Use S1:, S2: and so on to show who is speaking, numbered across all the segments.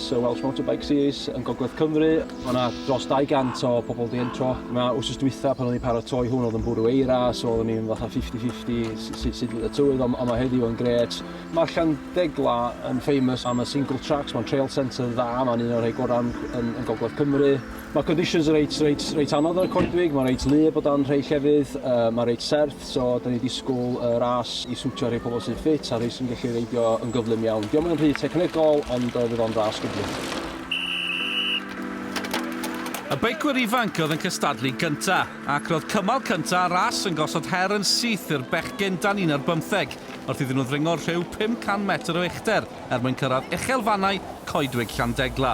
S1: Sir Welsh Motorbike Series yn Gogledd Cymru. Mae yna dros 200 o pobl di entro. Mae wrth dwytha pan o'n i'n paratoi hwn oedd yn bwrw eira, so oeddwn i'n fatha 50-50 sut fydd y tywydd, ond mae heddiw yn gret. Mae'r Llandegla yn famous am y single tracks, mae'n trail centre dda, mae'n un o'r rhai gorau yn, yn, yn Gogledd Cymru. Mae conditions reit, reit, reit anodd ar y coedwig, mae'n reit lu bod o'n rhai llefydd, uh, mae'n reit serth. So, dan ni'n disgwyl y ras i siwtio rhai pobl sy'n ffit a rhai sy'n gallu reidio yn gyflym iawn. Diolch yn rhy technegol, ond uh, fydd o'n ras gyflym.
S2: Y beicwyr ifanc oedd yn cystadlu gynta, ac roedd cymal cynta a ras yn gosod her yn syth i'r bechgyn dan un ar bymtheg, wrth iddyn nhw ddringo rhyw 500 metr o uchder er mwyn cyrraedd uchelfannau coedwig Llandegla.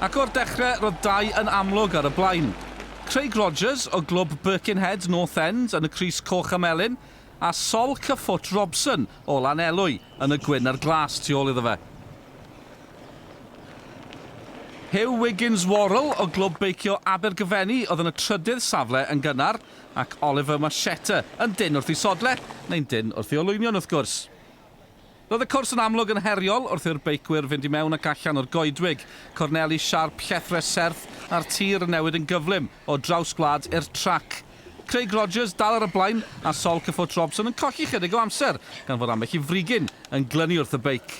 S2: Ac o'r dechrau, roedd dau yn amlwg ar y blaen. Craig Rogers o glwb Birkenhead North End yn y crys coch a melyn, a Sol Cyffwt Robson o Lanelwy yn y gwyn a'r glas tu ôl iddo fe. Huw Wiggins Worrell o glwb beicio Abergyfenni oedd yn y trydydd safle yn gynnar, ac Oliver Marchetta yn dyn wrth ei sodle, neu'n dyn wrth ei olwynion wrth gwrs. Roedd y cwrs yn amlwg yn heriol wrth i'r beicwyr fynd i mewn ac allan o'r goedwig, corneli siarp, llethrau serth a'r tir yn newid yn gyflym o draws gwlad i'r trac. Craig Rogers dal ar y blaen a Sol Cyffwrdd Robson yn colli chydig o amser gan fod ambell i frigyn yn glynu wrth y beic.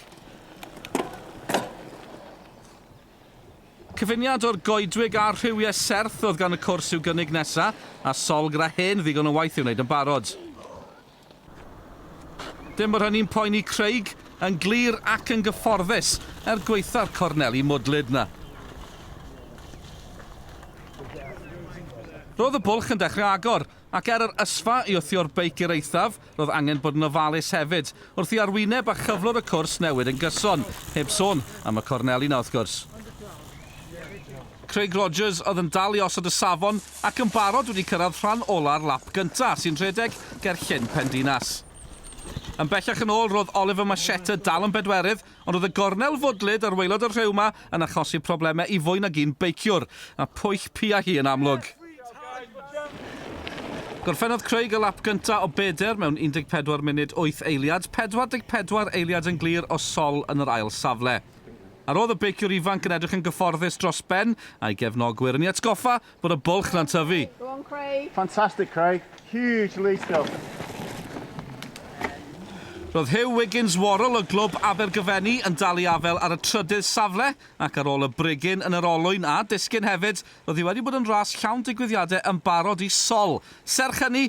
S2: Cyfuniad o'r goedwig a'r rhywiau serth oedd gan y cwrs i'w gynnig nesa, a Sol gyda hen ddigon o waith i'w wneud yn barod. Dim bod hynny'n poeni Craig, yn glir ac yn gyfforddus, er gwaetha'r corneli mwdlyd 'na. Roedd y bwlch yn dechrau agor, ac er yr ysfa i wthio'r beic i'r eithaf, roedd angen bod yn ofalus hefyd, wrth i arwyneb a chyflwr y cwrs newid yn gyson, heb sôn am y corneli 'na wrth gwrs. Craig Rogers oedd yn dal i osod y safon, Ac yn barod wedi cyrraedd rhan ola'r lap gyntaf, sy'n rhedeg ger Llyn Pendinas. Yn bellach yn ôl, roedd Oliver Machetta dal yn bedwerydd, ond roedd y gornel fwdlyd ar waelod y rhew 'ma yn achosi problemau i fwy nag un beiciwr, a pwyll piau hi yn amlwg. Gorffennodd Craig y lap gyntaf o bedr mewn 14 munud wyth eiliad, 44 eiliad yn glir o sol yn yr ail safle. A roedd y beiciwr ifanc yn edrych yn gyfforddus dros ben, a'i gefnogwyr yn ei atgoffa bod y bwlch na'n tyfu. Go on, Craig.
S3: Fantastic, Craig.
S4: Huge lead still.
S2: Roedd Huw Wiggins Worrell o glwb Abergyfenni yn dal i afael ar y trydydd safle ac ar ôl y brigyn yn yr olwyn a disgyn hefyd, roedd hi wedi bod yn ras llawn digwyddiadau yn barod i Sol. Serch hynny,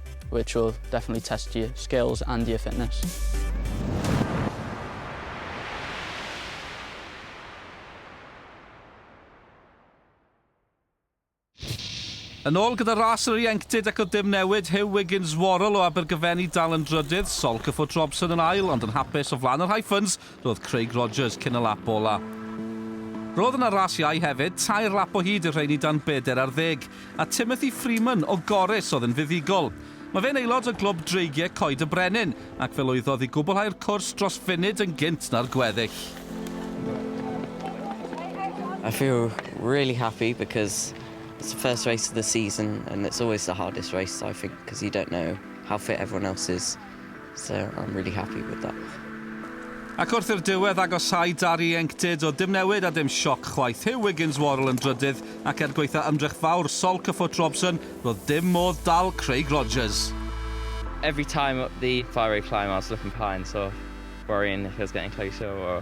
S5: which will definitely test your skills and your fitness.
S2: Yn ôl gyda ras yr ieuenctid ac o dim newid, Huw Wiggins Worrell o Abergyfenni dal yn drydydd, Sol Cyffwrdd Robson yn ail ond yn hapus o flaen yr Hyphens Roedd Craig Rogers cyn y lap ola. Roedd yna ras iau hefyd, tair lap o hyd i'r rheiny dan bedair ar ddeg, a Timothy Freeman o Gorris oedd yn fuddugol. Mae fe'n aelod o Glwb Dreigiau Coed y Brenin, ac fe lwyddodd i gwblhau'r cwrs dros funud yn gynt na'r gweddill.
S6: I feel really happy because it's the first race of the season and it's always the hardest race I think because you don't know how fit everyone else is. So I'm really happy with that. Ac
S2: wrth i'r diwedd agosáu dar ieuenctid oedd dim newid a dim sioc chwaith. Huw Wiggins Worrell yn drydydd ac er gwaetha ymdrech fawr Sol Cyffwrdd Robson roedd dim modd dal Craig Rogers. Every
S3: time up the fire rate climb I was looking behind sort of worrying if he was getting closer or.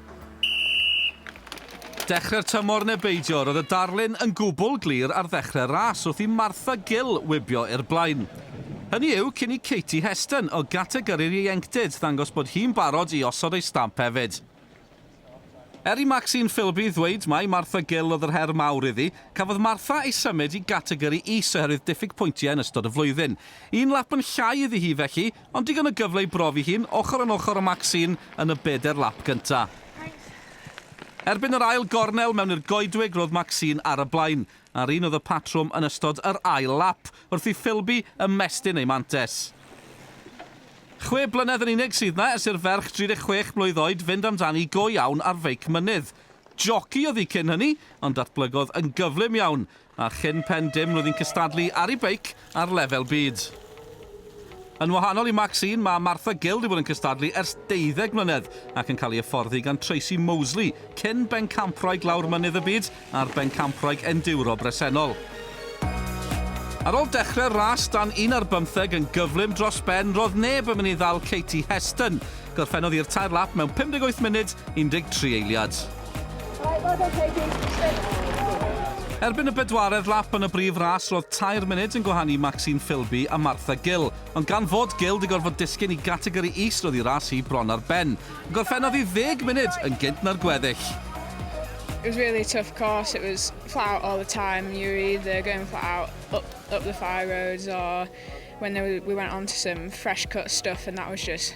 S2: Dechrau'r tymor neu beidio, roedd y darlun yn gwbl glir ar ddechrau'r ras wrth i Martha Gill wibio i'r blaen. Hynny yw, cyn i Katie Heston o gategori'r ieuenctid ddangos bod hi'n barod i osod ei stamp hefyd. Er i Maxine Philby ddweud mai Martha Gill oedd yr her mawr iddi, cafodd Martha ei symud i gategori is oherwydd diffyg pwyntiau yn ystod y flwyddyn. Un lap yn llai iddi hi felly, Ond digon o gyfle i brofi hi'n ochr yn ochr â Maxine yn y bedair lap gynta'. Erbyn yr ail gornel mewn i'r goedwig roedd Maxine ar y blaen, a'r un oedd y patrwm yn ystod yr ail lap, wrth i Philby ymestyn ei mantes. Chwe blynedd yn unig sydd 'na ers i'r ferch 36 mlwydd oed fynd amdani go iawn ar feic mynydd. Joci oedd hi cyn hynny, ond datblygodd yn gyflym iawn, a chyn pen dim roedd hi'n cystadlu ar ei beic ar lefel byd. Yn wahanol i Maxine, mae Martha Gill wedi bod yn cystadlu ers deuddeg mlynedd ac yn cael ei hyfforddi gan Tracey Moseley, cyn bencampwraig lawr mynydd y byd a'r bencampwraig enduro bresennol. Ar ôl dechrau'r ras dan un ar bymtheg yn gyflym dros ben, roedd neb yn mynd i ddal Katie Heston. Gorffennodd hi'r tair lap mewn 58 munud, 13 eiliad. Erbyn y bedwaredd lap yn y brif ras roedd tair munud yn gwahanu Maxine Filby a Martha Gill, ond gan fod Gill 'di gorfod disgyn i gategori is roedd ei ras hi bron ar ben. Gorffennodd hi ddeg munud yn gynt na'r gweddill. It
S7: was really tough course, it was flat out all the time, you were either going flat out up up the fire roads or when there we went on to some fresh cut stuff and that was just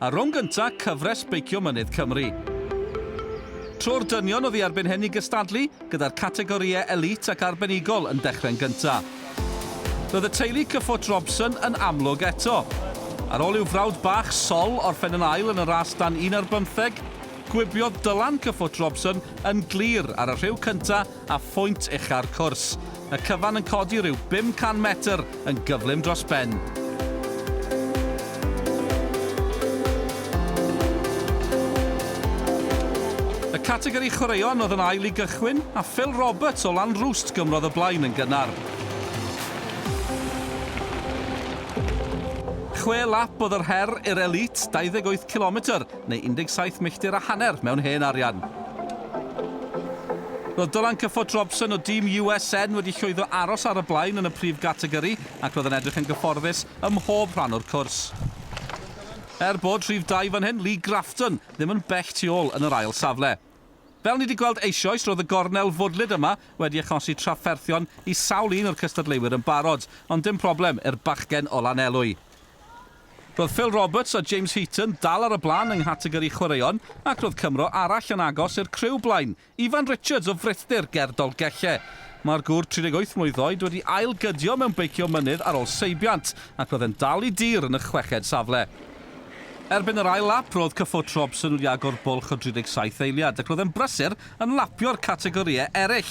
S2: a rownd gynta cyfres Beicio Mynydd Cymru. Tro'r dynion oedd i erbyn hyn i gystadlu, gyda'r categorïau Elite ac Arbenigol yn dechrau'n gynta. Roedd y teulu Cyffot Robson yn amlwg eto. Ar ôl i'w frawd bach, Sol, orffen yn ail yn y ras dan un ar bymtheg, gwibiodd Dylan Cyffot Robson yn glir ar y rhiw cynta a phwynt ucha'r cwrs. Y cyfan yn codi rhyw 500 metr yn gyflym dros ben. Y categori chwaraeon oedd yn ail i gychwyn, a Phil Roberts o Lanrwst gymrodd y blaen yn gynnar. Chwe lap oedd yr her i'r elît, 28 cilometr, neu 17 milltir a hanner mewn hen arian. Roedd Dylan Cyffot Robson o dîm USN wedi llwyddo aros ar y blaen yn y prif gategori ac roedd yn edrych yn gyfforddus ym mhob rhan o'r cwrs. Er bod rhif dau fan hyn, Lee Grafton, ddim yn bell tu ôl yn yr ail safle. Fel ni wedi gweld eisioes, roedd y gornel fwdlyd yma wedi achosi trafferthion i sawl un o'r cystadleuwyr yn barod, ond dim problem i'r bachgen o Lanelwy. Roedd Phil Roberts a James Heaton dal ar y blaen yng nghategori chwaraeon ac roedd Cymro arall yn agos i'r criw blaen, Ifan Richards o frithdir ger Dolgellau. Mae'r gŵr 38 mlwydd oed wedi ail-gydio mewn beicio mynydd ar ôl seibiant ac roedd e'n dal i dir yn y chweched safle. Erbyn yr ail lap, roedd cyffwrdd Robson wedi agor bwlch o 37 eiliad ac roedd e'n brysur yn lapio'r categorïau eraill,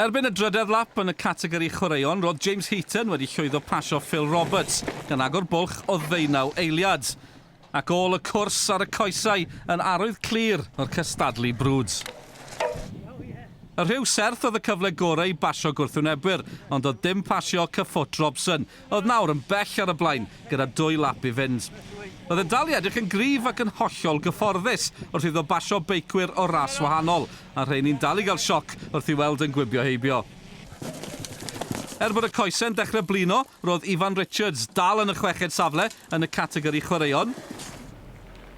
S2: Erbyn y drydedd lap yn y categori chwaraeon, roedd James Heaton wedi llwyddo pasio Phil Roberts, gan agor bwlch o ddeunaw eiliad. Ac ôl y cwrs ar y coesau yn arwydd clir o'r cystadlu brwd. Y rhyw serth oedd y cyfle gorau i basio gwrthwynebwyr, ond doedd dim pasio cyffwt Robson, oedd nawr yn bell ar y blaen gyda dwy lap i fynd. Roedd e'n dal i edrych yn gryf ac yn hollol gyfforddus wrth iddo basio beicwyr o ras wahanol, a'r rheini'n dal i gael sioc wrth i'w weld yn gwibio heibio. Er bod y coesau'n dechrau blino, roedd Ifan Richards dal yn y chweched safle yn y categori chwaraeon,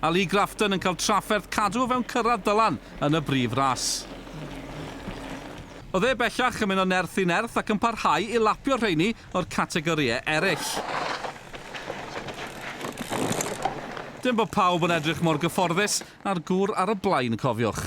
S2: a Lee Grafton yn cael trafferth cadw o fewn cyrraedd Dylan yn y brif ras. Oedd e bellach yn mynd o nerth i nerth ac yn parhau i lapio'r rheini o'r categorïau eraill. Dim bod pawb yn edrych mor gyfforddus â'r gŵr ar y blaen, cofiwch.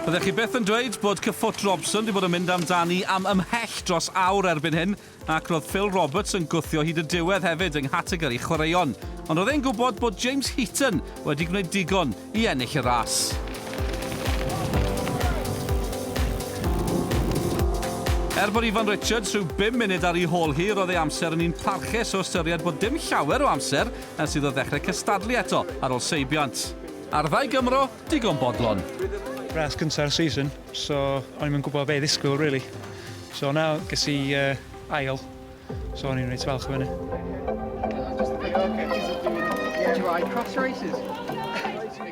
S2: Byddech chi byth yn dweud bod cyffwrdd Robson wedi bod yn mynd amdani am ymhell dros awr erbyn hyn. ac roedd Phil Roberts yn gwthio hyd y diwedd hefyd yng nghategori chwaraeon, ond roedd e'n gwybod bod James Heaton wedi gwneud digon i ennill y ras. Er bod Ifan Richards rhyw bum munud ar ei hôl hi, roedd ei amser yn un parchus o ystyried bod dim llawer o amser ers iddo ddechrau cystadlu eto ar ôl seibiant. Ar ddau Gymro, digon bodlon. Ras cynta'r
S8: season. So o'n i'm yn gwybod be i ddisgwyl rili. So na, ges i uh, ail. So o'n i'n reit falch o hynny.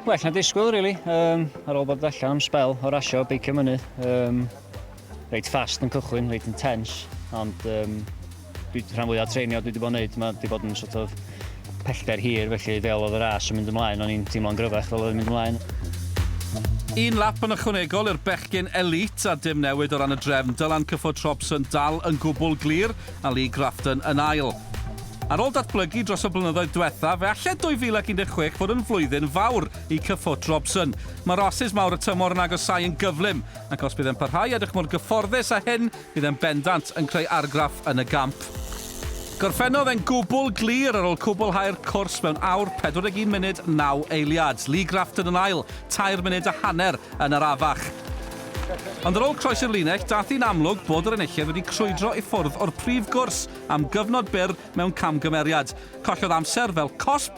S8: Well na disgwyl rili. Um, ar ôl bod allan am spel o rasio beicio mynydd. Um, reit fast yn cychwyn, reit intense. Ond um, Dwi, rhan fwya o'r treinio dwi wedi bod yn neud, mae wedi bod yn sort of pellter hir, felly fel oedd y ras yn mynd ymlaen, o'n i'n teimlo'n gryfach fel oedd yn mynd ymlaen.
S2: Un lap yn ychwanegol i'r bechgyn elît, a dim newid o ran y drefn, Dylan Cyffro Trobson dal yn gwbl glir, a Lee Grafton yn ail. Ar ôl datblygu dros y blynyddoedd diwethaf, fe alle 2016 fod yn flwyddyn fawr i Cyffro Trobson. Mae rasys mawr y tymor yn agosáu yn gyflym, ac os bydd e'n parhau i edrych mor gyfforddus â hyn, Bydd e'n bendant yn creu argraff yn y gamp. Gorffennodd e'n gwbl glir ar ôl cwblhau'r cwrs mewn awr 41 munud 9 eiliad. Lee Grafton yn ail, tair munud a hanner yn arafach. Ond ar ôl croesi'r linell, daeth hi'n amlwg bod yr enillydd wedi crwydro i ffwrdd o'r prif gwrs am gyfnod byr mewn camgymeriad. Collodd amser fel cosb